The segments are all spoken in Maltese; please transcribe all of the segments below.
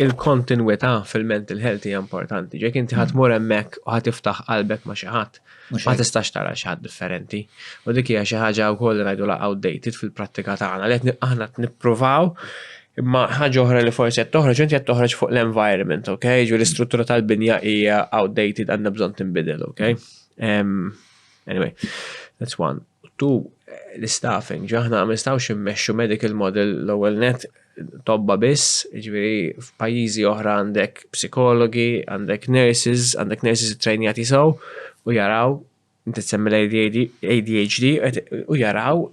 Il-kontinwità fil-mental health hija importanti. Ġek inti ħadd mur hemmhekk u ħadd tiftaħ qalbek ma' xi ħadd, ma tistax tara xi ħadd differenti. U dik hija xi ħaġa wkoll li ngħidu la outdated fil-prattika tagħna li qed aħna nippruvaw imma ħaġa oħra li forsi qed toħroġ inti qed toħroġ fuq l-environment, ok? Ġu l-istruttura tal-binja hija outdated għandha bżonn tinbidel, ok? Um, anyway, that's one. to l-istaffing, ġo aħna ma nistgħux immexxu medical model l-ewwel nett tobba biss, jiġifieri f'pajjiżi oħra għandek psikologi, għandek nurses, għandek nurses ittrejnjati sew u jaraw, inti qed issemmi l-ADHD, u jaraw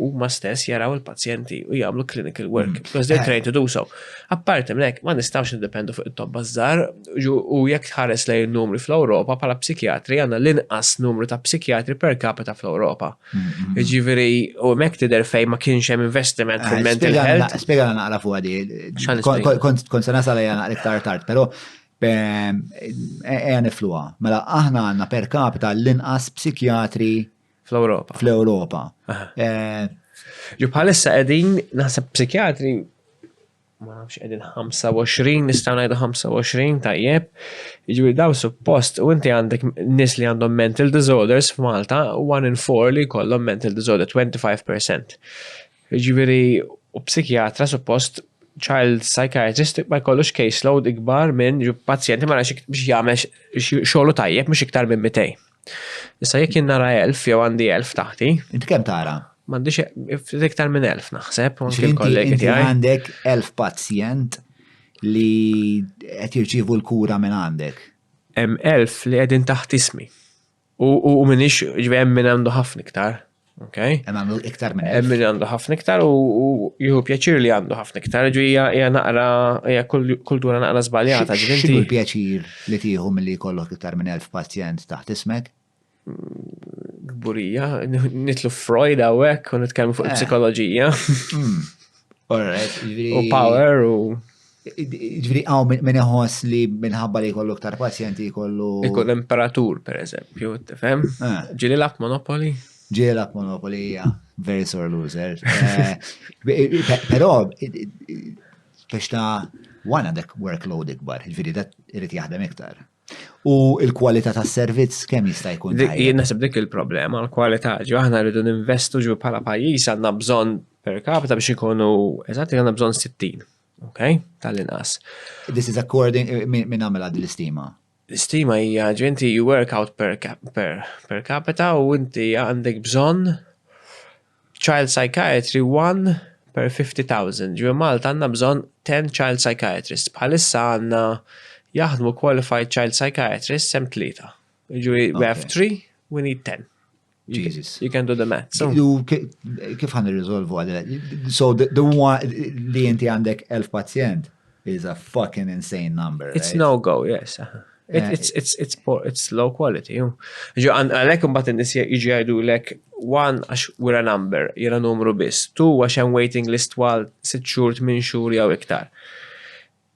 huma stess jaraw il-pazjenti u jagħmlu clinical work, because they are trained to do so. Apparti minn hekk, ma nistgħux niddependu fuq it-tobba żgħar u jekk tħares lejn in-numri fl-Ewropa bħala psikjatri għandna l-inqas numru ta' psikjatri per capita fl-Ewropa. Jiġifieri u hemmhekk tidher fejn ma kienx hemm investiment fil-mental health. Spjegana naqra fuqha di. Kont se nasal għajja naqra iktar tard, però ejja nifluha. Mela aħna għandna per capita l-inqas psikjatri Fl-Europa. Fl-Europa. Eh, Ġu bħalissa qegħdin naħseb psikjatri ma nafx qegħdin 25 nistgħu ngħidu 25 tajjeb. Jiġri daw suppost u inti għandek nies li għandhom mental disorders f'Malta, one in four li kollhom mental disorder 25%. Jiġri u psikjatra suppost child psychiatrist ma jkollux caseload ikbar minn pazjenti ma nafx biex jagħmel xogħlu tajjeb mhux iktar minn 200. Issa jekk jien nara elf jew għandi elf taħti. Inti kemm tara? M'għandix e- iktar minn elf naħseb, u anke l-kollegi tiegħi. Għandek elf pazjent li qed jirċievu l-kura minn għandek. Hemm elf li qegħdin taħt ismi. U minix ġvem minn għandu ħafna iktar. Okay. Hemm għandu iktar minn. Hemm min għandu ħafna iktar u jieħu pjaċir li għandu ħafna iktar, ġu hija naqra hija kultura naqra żbaljata. X'inhu l-pjaċir li tieħu milli jkollok iktar minn elf pazjent taħt ismek? Gburija, nitlu Freud hawnhekk u nitkellmu fuq eh. psikoloġija. Hmm. U power u. Ġviri għaw minn iħoss li minħabba li jkollu ktar pazjenti jkollu. Jkollu imperatur, per eżempju, tifem? Ah. Ġili lab Monopoli? Ġili lab Monopoli, ja. Very sore loser. Eh, Pero, biex ta' wana dek workload ikbar, ġviri dat irrit jaħdem iktar. U il-kwalità tas servizz kemm jista' jkun? Jien naħseb dik il-problema, l-kwalità ġo aħna rridu ninvestu ġu bħala pajjiż għandna bżonn per capita biex ikunu eżatt għandna bżonn 60 Okay, tal-inqas. This is according, eh, minn għamela din l-istima? L-istima hija ġenti you work out per, per, per capita u inti għandek bżonn child psychiatry 1 per 50,000. Ġu Malta għandna bżonn 10 child psychiatrist. Bħalissa għandna jaħdmu qualified child psychiatrist sem tlieta. Ġu we have 3, we need 10. Jesus. You can do the math. So. Kif għan irriżolvu għadil? So the, the one li inti għandek elf pazjent is a fucking insane number. It's right? no go, yes. Uh-huh. It, eh, it's, it's, it's, poor, it's low quality. Ġo, għalek mbat n-nis iġi għajdu lek, one, għax we're a number, jira numru bis, two, għax I'm waiting list twal, sit xur, min xur, jaw iktar.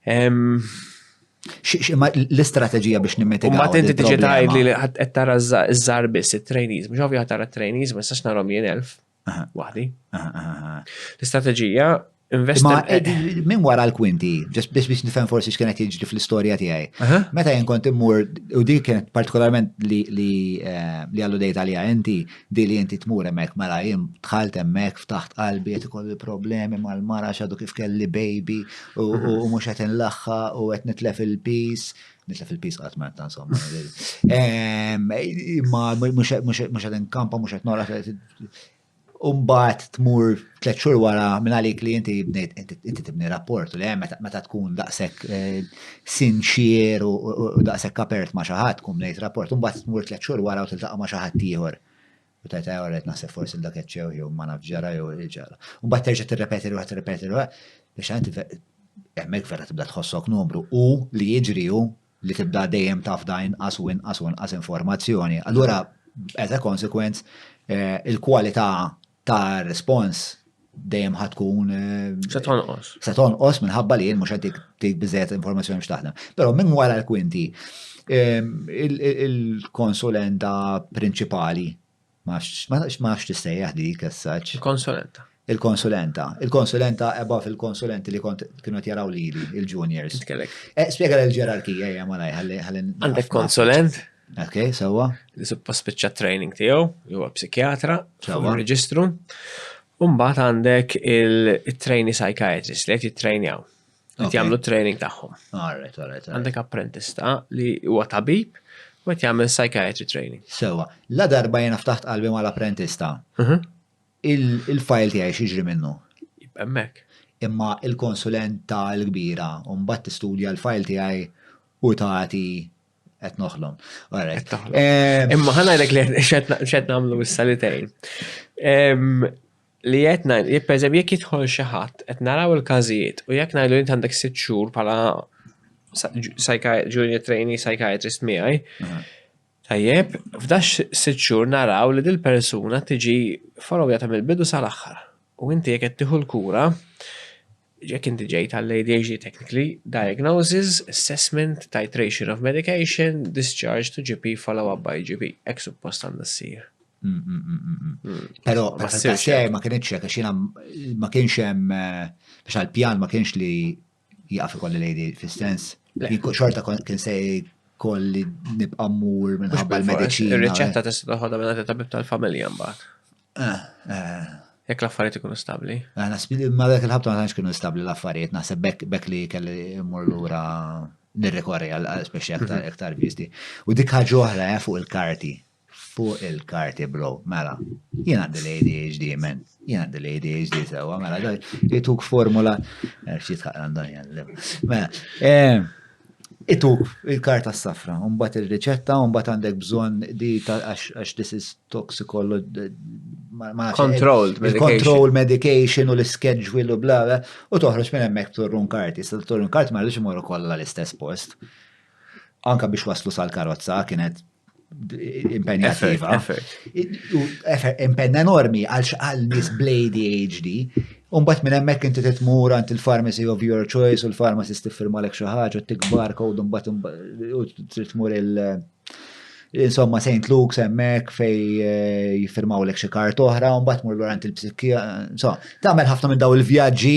L-istrateġija biex nimmitigaw. Ma tinti tiġi tgħid li qed tara ż-żar biss it-trainees, mhux ovvja tara t-trainees ma nistax narhom jien elf waħdi. L-istrateġija investi. Eh, min wara l-kwinti, biex biex nifhem forsi x'kienet jiġri fl-istorja tiegħi. Meta jien kont immur, u dik kienet partikolarment li eh, għallu dejt għalija inti, Di li inti tmur hemmhekk mela jien dħalt hemmhekk ftaħt qalbi qed ikolli problemi mal-mara għax għadu kif kelli baby u mhux qed inlaħħa u qed nitlef il-peace. Nitlef il-peace qatt ma ta' insomma. Ma mhux qed inkampa mhux qed noraq. Umbat tmur tliet xhur wara minn għalik li inti bnejt inti tibni rapport li hemm meta tkun daqshekk eh, sinċier u daqshekk apert ma' xi ħadd tkun bnejt rapport, imbagħad tmur tliet xhur wara u tiltaqa' ma' xi ħadd ieħor. U tajt għajja għalet naħseb forsi dak eċċew jew ma naf ġara jew il-ġara. U mbagħad terġa' tirrepeti ruħha tirrepeti ruħha biex għanti hemmhekk vera tibda tħossok numru u li jiġri hu li tibda dejjem taf da inqas u inqas u inqas informazzjoni. Allura, as a consequence, eh, il-kwalità ta' respons dejjem ħad tkun. Se tonqos. Se tonqos minħabba li jien mhux qed tik biżejjed informazzjoni biex taħdem. Però minn wara l-kwinti, il-konsulenta prinċipali, ma nafx tistejjaħ dik as-saċ. Il-konsulenta. Il-konsulenta. Il-konsulenta ebba fil-konsulenti li kont kienu jaraw li il-juniors. Kellek. Eh, Spiega l-ġerarkija hija malaj ħalli. Għandek konsulent? Ok, sewa. Li suppost spiċċa training tiegħu, jew psikjatra, sewa reġistru. Umbagħad għandek il-trainee psychiatrist li qed jittrainjaw. Qed jagħmlu training tagħhom. Alright, alright. Għandek apprentista li huwa tabib u qed jagħmel psychiatry training. Sewa, la darba jiena ftaħt qalbi mal-apprentista. Mhm. Il-fajl tiegħi xiġri minnu. Hemmhekk. Imma il-konsulent tal-kbira u mbagħad tistudja l-fajl tiegħi u tagħti Qed noħlom. Qed noħlom. Eh, Imma ħanajlek li xed nagħmlu issa li tgħin. Li qed ngħid, jekk pereżempju jekk jidħol xi ħadd qed naraw il-każijiet u jekk ngħidu int għandek sitt xhur bħala junior trainee psychiatrist miegħi. Tajjeb, f'dax sitt xhur naraw li dil-persuna tiġi followja ta' mill-bidu sal-aħħar. U inti jekk qed tieħu l-kura, Jekk inti ġejt għall-ADHD technically, diagnosis, assessment, titration of medication, discharge to GP, follow up by GP. Hekk suppost għandha ssir. Mm, mm, mm, Pero, ma ssirx ma kienx hekk għax ma kienx hemm eh, biex għall-pjan ma kienx li jaqaf ikolli lejdi fis-sens. Xorta kien se kolli nibqa' mmur minħabba l-mediċina. Ir-riċetta eh. tista' toħodha minn tabib tal-familja mbagħad. Eh, eh. Jekk l-affarijiet ikunu stabbli. Eh, Nasbi li ma dak il-ħabta ma tantx kienu stabbli l-affarijiet, naħseb bekk bekk li kelli mmur lura nirrikorri għal għal speċi aktar Mhm. aktar visti. U dik ħaġa oħra eh, fuq il-karti. Fuq il-karti, bro. Mela, jien għandi l-ADHD, men. Jien għandi l-ADHD sewa, mela, daj, jituk formula. Xi tħaqqa għandhom jgħallim. Mela, eh, Ituk il-karta s-safra, mbagħad ir-riċetta, mbagħad għandek bżonn di għax this is toxicology. Controlled medication. Controlled medication u l-schedule u bla bla. U toħroġ minn hemmhekk torrun karti. Sa torrun karti ma rridx imorru kollha l-istess post. Anka biex waslu sal-karozza kienet Impenna Impenna enormi għal xqal nis blady HD. Umbat minn hemmhekk inti titmur għand il-pharmacy of your choice u l-pharmacist tiffirma lek xi ħaġa tikbar kod umbat titmur il- Insomma, St. Luke's hemmhekk fej eh, jiffirmaw lek xi kart oħra, mbagħad mur lura għand il-psikkija, insomma, tagħmel ħafna minn daw il-vjaġġi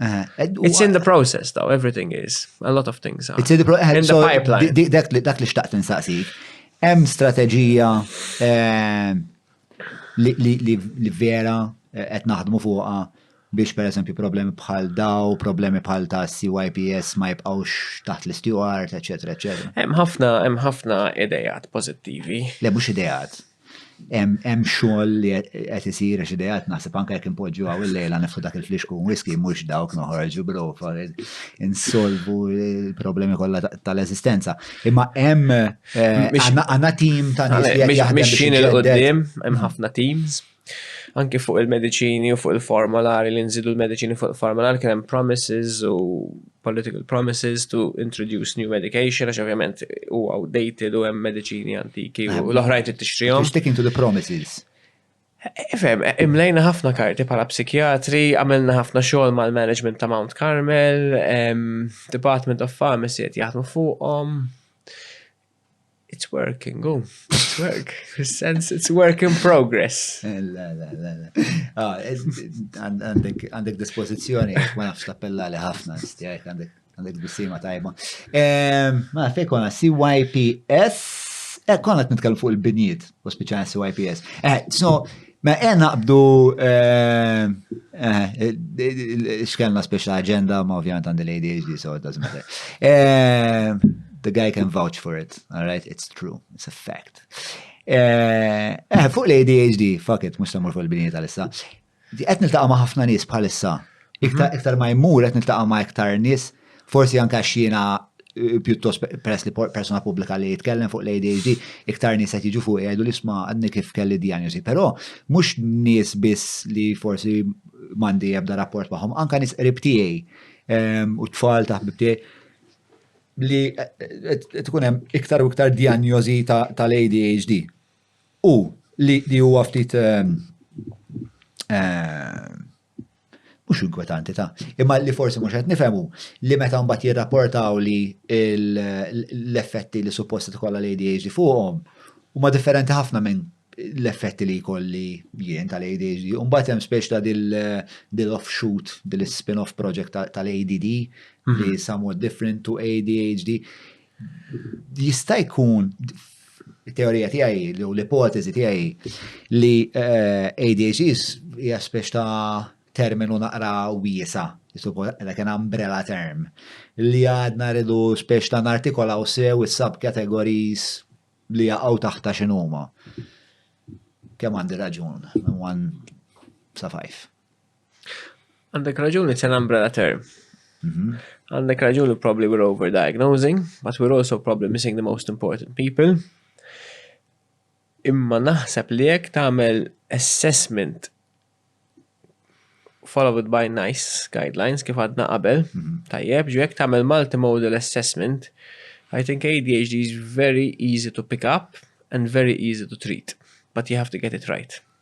It's in the process, though, everything is. A lot of things are. It's in the, pro in so the pipeline. Dak li xtaqt insaqsi. Hemm strateġija eh, li vera eh, qed naħdmu fuqha biex per eżempju problemi bħal daw, problemi bħal ta' CYPS ma jibqawx taħt l-isteward, eccetera, eccetera. Hemm ħafna, hemm ħafna idejat pozittivi. Le mhux idejat. Hemm xogħol li qed isir għax ideat naħseb anke jekk inpoġġu hawn il-lejla nefu dak il-flixku whisky mhux dawk noħorġu brofa insolvu l-problemi kollha tal-eżistenza. Imma hemm eh, għandna tim ta' nies li qed jaħdem. Mixin il-qudiem hemm ħafna teams anki fuq il-medicini u fuq il-formolari li nżidu l-medicini fuq il-formolari kien hemm promises u political promises to introduce new medication, għax ovvjament u outdated u hemm mediċini antiki u l-oħrajn trid tixtrihom. Sticking to the promises. Ifem, e, e, imlejna ħafna karti pala psikjatri, għamilna ħafna xogħol mal-management ta' Mount Carmel, Department of Pharmacy qed jaħdmu fuqhom. It's working, oh, it's work. Sense it's work in progress. La, la, la, la. Ah, għandek dispozizjoni, ma nafx tappella li ħafna, stijajt, għandek bissima tajba. Ehm, ma fej konna CYPS, eh, konna t-nitkellem fuq il-binjiet, u speċan CYPS. Eh, so, Ma e naqbdu eh, eh, xkellna special agenda ma ovvjant għandi l-ADHD so it doesn't matter. Eh, the guy can vouch for it, alright, it's true, it's a fact. Eh, fuq l-ADHD, fuck it, mux tamur fuq il-bini tal-issa. Qed niltaqa' ma' ħafna nies bħalissa. Iktar mhm. iktar ma jmur qed niltaqa' ma' iktar nies Forsi anke għax jiena eh, pjuttost peress li persona pubblika li jitkellem fuq l-ADHD, iktar nies qed jiġu fuq jgħidu li sma' għadni kif kelli diagnosi. Però mhux nies biss li forsi m'għandi ebda rapport magħhom, anke nies qrib tiegħi ehm, u tfal ta' ħbib tiegħi li eh, eh, tkun hemm iktar u iktar diagnosi tal-ADHD. U li huwa ftit ehm, ehm, mhux inkwetanti ta', imma li forsi mhux qed nifhem hu li meta mbagħad jirrapportaw li l-effetti li suppost tkollha l-ADHD fuqhom huma differenti ħafna minn l-effetti li jkolli jien tal-ADHD. Mbagħad hemm speċ ta' dil-offshoot, dil-spin-off project tal-ADD li mhm. somewhat different to ADHD. Jista' jkun teorija tiegħi li u l-ipoteżi tiegħi li eh, ADHDs hija spex ta' terminu naqra wiesa, like an umbrella term, li għadna rridu spex ta' nartikolaw sew is-subcategories li jaqgħu taħta x'inhuma. Kemm għandi raġun, one sa five. Għandek raġun, it's an umbrella term. Mhm. Għandek raġun li probably we're overdiagnosing, but we're also probably missing the most important people. Imma naħseb li jekk tagħmel assessment followed by nice guidelines kif għadna qabel, mhm. tajjeb, ġu jekk tagħmel multimodal assessment, I think ADHD is very easy to pick up and very easy to treat, but you have to get it right.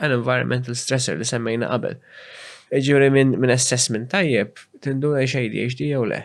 għal environmental stressor li semmejna qabel. Jiġifieri minn min assessment tajjeb tinduna li x'ADHD jew le.